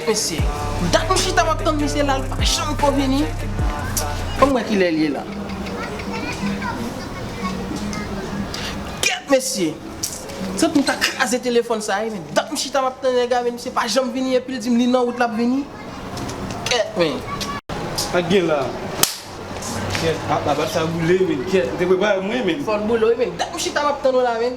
Kèt mesye. Dat m chita map tann misye la l pa janm ko vini. Fòm wè kilè l ye la. Kèt mesye. Santi m ta kraze telefòn sa wi men dat m chita map tann nèg la men misye pa janm vini epil dim li nan wout lap vini. Kèt men. Sak gen la. Kèt. Apa sa boule men kèt. Ou te prepare mwen men. Fòl boule wi men dat m chita map tann ou la men.